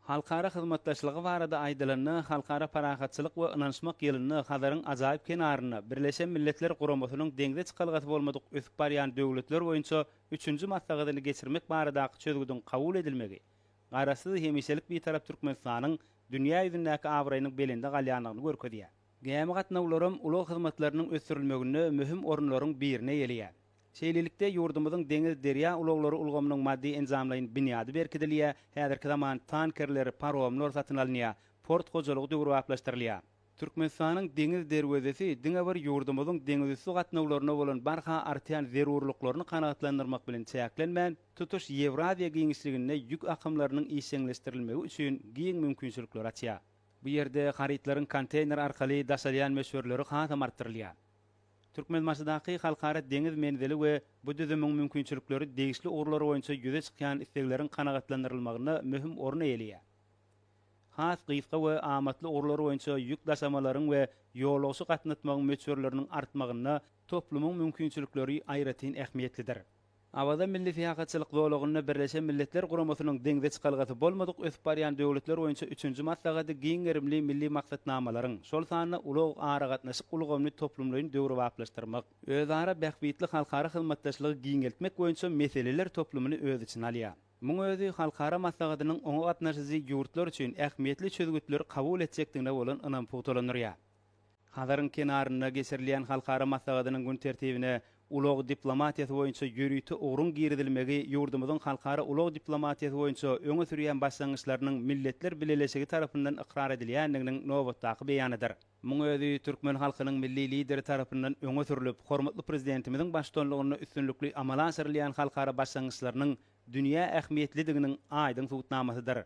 Halkara hyzmatdaşlygy barada aýdylanda, Halkara parahatçylyk we ynanyşmak ýylynda Hazaryň ajaýyp kenarynda Birleşen Milletler Guramasynyň Deňze çykalgasy bolmadyk ösüp barýan döwletler boýunça üçünji maslahatyny geçirmek baradaky çözgüdiň kabul edilmegi Garaşsyz, hemişelik Bitarap Türkmenistanyň dünýä ýüzündäki abraýynyň belende galýandygyny görkezýär. Gämi gatnawlaram ulag hyzmatlarynyň ösdürilmeginde möhüm orunlaryň birine eýeleýär. Şeýlelikde, ýurdumyzyň deňiz-derýa ulaglary ulgamynyň maddy-enjamlaýyn binýady berkidilýär, häzirki zaman tankerler, paromlar satyn alynýar, port hojalygy döwrebaplaşdyrylýar. Türkmenistanyň deňiz derwezesi diňe bir ýurdumyzyň deňizüsti gatnawlaryna bolan barha artýan zerurlyklaryny kanagatlandyrmak bilen çäklenmän, tutuş Ýewraziýa giňişliginde ýük akymlarynyň işjeňleşdirilmegi üçin giň mümkinçilikleri açýar. Bu ýerde harytlaryň konteýner arkaly daşalýan möçberleri hasam artdyrylýar. Türkmenbaşydaky Halkara deňiz menzili we bu düzümiň mümkinçilikleri degişli ugurlar boýunça ýüze çykýan islegleriň kanagatlandyrylmagynda möhüm orun eýeleýär. Has gysga we amatly ugurlar boýunça ýük daşamalaryň we ýolagçy gatnatmagyň möçberleriniň artmagynda toplumyň mümkinçilikleri aýratyn ähmiýetlidir. Awaza milli syýahatçylyk zolagynda Birleşen Milletler Guramasynyň deňze çykalgasy bolmadyk ösüp barýan döwletler boýunça üçünji maslahady giň gerimli milli maksatnamalaryň, şol sanda ulag, aragatnaşyk ulgamyny toplumlaýyn döwrebaplaşdyrmak, özara bähbitli halkara hyzmatdaşlygy giňeltmek boýunça meseleler toplumyny öz içine alýar. Muň özi halkara maslahatynyň oňa gatnaşyjy ýurtlar üçin ähmiýetli çözgütleri kabul etjekdigine bolan ynamy pugtalandyrýar. Hazaryň kenarynda geçirilýän halkara maslahatynyň gün tertibine ulag diplomatiýasy boýunça ýörite ugruň girizilmegi ýurdumyzyň halkara ulag diplomatiýasy boýunça öňe sürýän başlangyçlarynyň Milletler Bileleşigi tarapyndan ykrar edilýändiginiň nobatdaky beýanydyr. Muň özi türkmen halkynyň Milli Lideri tarapyndan öňe sürlüp, hormatly Prezidentimiziň baştutanlygynda üstünlikli amala aşyrylýan halkara başlangyçlarynyň dünýä ähmiýetlidiginiň aýdyň subutnamasydyr.